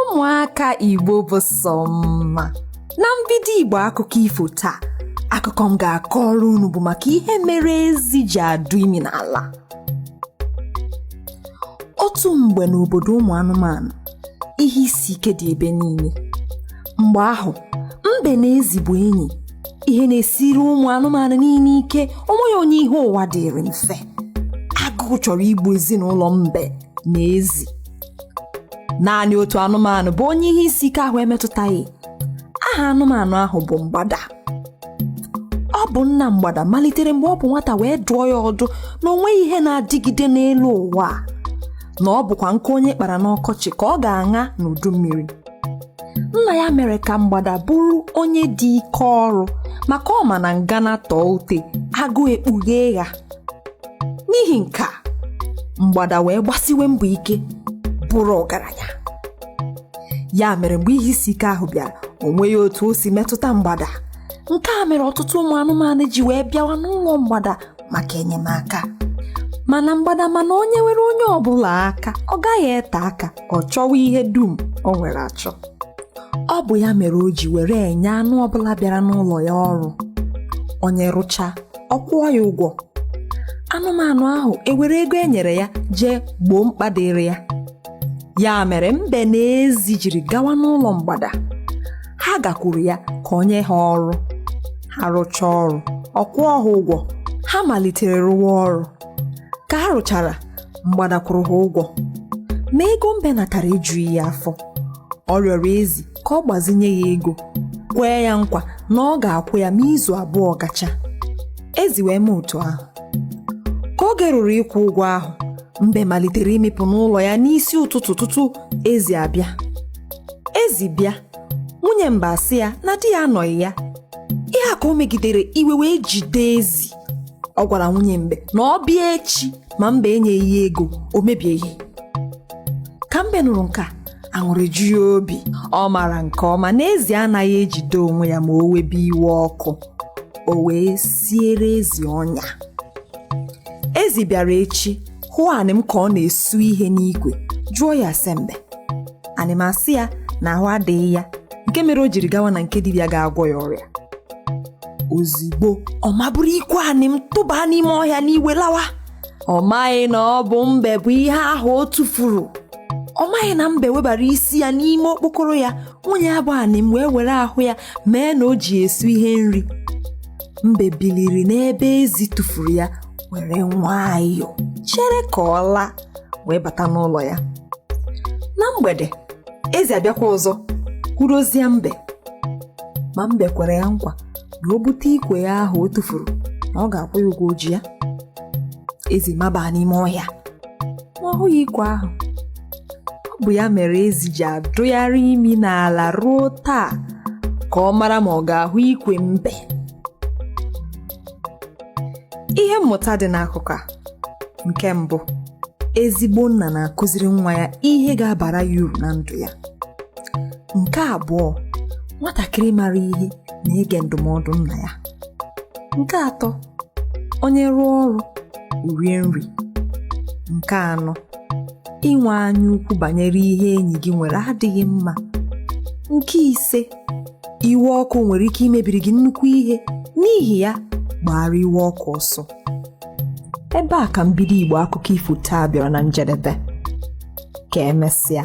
ụmụaka igbo bụ sọ mma na mbido igbo akụkọ ifo taa akụkọ m ga-akọrọ unu bụ maka ihe mere ezi ji adụ imi n'ala otu mgbe n'obodo ụmụ anụmanụ ihe isi ike dị ebe niile mgbe ahụ mbe na ezi bụ enyi ihe na-esiri ụmụ anụmanụ niile ike onweghị onye ihe ụwa dịrị mfe agụụ chọrọ igbu ezinụlọ mbe na ezi naanị otu anụmanụ bụ onye ihe isi ike ahụ emetụtaghị aha anụmanụ ahụ bụ mgbada ọ bụ nna mgbada malitere mgbe ọ bụ nwata wee dụọ ya ọdụ na o nweghị ihe na-adịgide n'elu ụwa a, na ọ bụkwa nkụ onye kpara n'ọkọchị ka ọ ga-aṅa n'udu mmiri nna ya mere ka mgbada bụrụ onye dị ike ọrụ maka ọ ma na ngana tọọ ute agụụ ekpughee ya n'ihi nke a mgbada wee gbasiwe mbọ ike bụrụ ọgaranya ya mere mgbe ihe isi ike ahụ bịara o nweghị otu o si metụta mgbada nke a mere ọtụtụ ụmụ anụmanụ ji wee bịawa n'ụlọ mgbada maka enyemaka mana mgbada ma na o nyewere onye ọbụla aka ọ gaghị ete aka ọ chọwa ihe dum o nwere achọ ọ bụ ya mere o ji were enye anụ ọbụla bịara n'ụlọ ya ọrụ onye rụcha ọ kwụọ ya ụgwọ anụmanụ ahụ ewere ego e nyere ya jee gboo mkpa dịrị ya ya mere mbe na ezi jiri gawa n'ụlọ mgbada ha gakwuru ya ka o nye ha ọrụ ha rụchaa ọrụ ọ kwụọ ha ụgwọ ha malitere rụwa ọrụ ka ha rụchara mgbada kwụrụ ha ụgwọ ma ego mbe natara ejughị ya afọ ọ rịọrọ ezi ka ọ gbazinye ya ego kwee ya nkwa na ọ ga-akwụ ya ma izu abụọ gacha ezi wee mee otu ahụ ka oge ruru ịkwụ ụgwọ ahụ mbe malitere ịmịpụ n'ụlọ ya n'isi ụtụtụ tutu ezi abịa ezi bịa nwunye mbe asị ya na di ya anọghị ya ihe a ka o megidere iwe wee jide ezi ọ gwara nwunye mbe na ọ bịa echi ma mbe enyeghị ya ego o mebie ihe ka mbe nụrụ nke a aṅụrị ju ya obi ọ maara nke ọma na ezi anaghị ejide onwe ya ma o webe iwe ọkụ o wee siere ezi ọnya ezi bịara echi hụ anịm ka ọ na-esu ihe n'ikwe jụọ ya ase mbe anịm asị ya na ahụ adịghị ya nke mere o jiri gawa na nke dibịa ga-agwọ ya ọrịa ozigbo ọ maburu ikwe anịm tụba n'ime ọhịa n'iwe lawa ọ maghị na ọ bụ mbe bụ ihe ahụ ọ tụfuru ọ maghị na mbe webara isi ya n'ime okpokoro ya nwunye ya bụ anịm wee were ahụ ya mee na o ji esu ihe nri mbe biliri n'ebe ezi tụfuru ya were nwayọọ chere ka ọ laa wee bata n'ụlọ ya na mgbede ezi abịakwa ọzọ kwurozie mbe ma mbe kwere ya nkwa na o bute ikwe ya ahụ o tụfuru na ọ ga-akwụ ya ụgwọ o ji ya ezi maba n'ime ọhịa ma ọ hụghị ikwe ahụ ọ bụ ya mere ezi ji adụgharị imi n'ala ruo taa ka ọ mara ma ọ ga-ahụ ikwe mbe ihe mmụta dị n'akụkọ a nke mbụ ezigbo nna na-akụziri nwa ya ihe ga-abara ya uru na ndụ ya nke abụọ nwatakịrị mara ihe na-ege ndụmọdụ nna ya nke atọ onye rụọ ọrụ rie nri nke anọ inwe anya ukwu banyere ihe enyi gị nwere adịghị mma nke ise iwe ọkụ nwere ike imebiri gị nnukwu ihe n'ihi ya gbaara iwe ọkụ ọsọ ebe a ka mbido igbo akụkọ ifo taa bịara na njedebe ka emesịa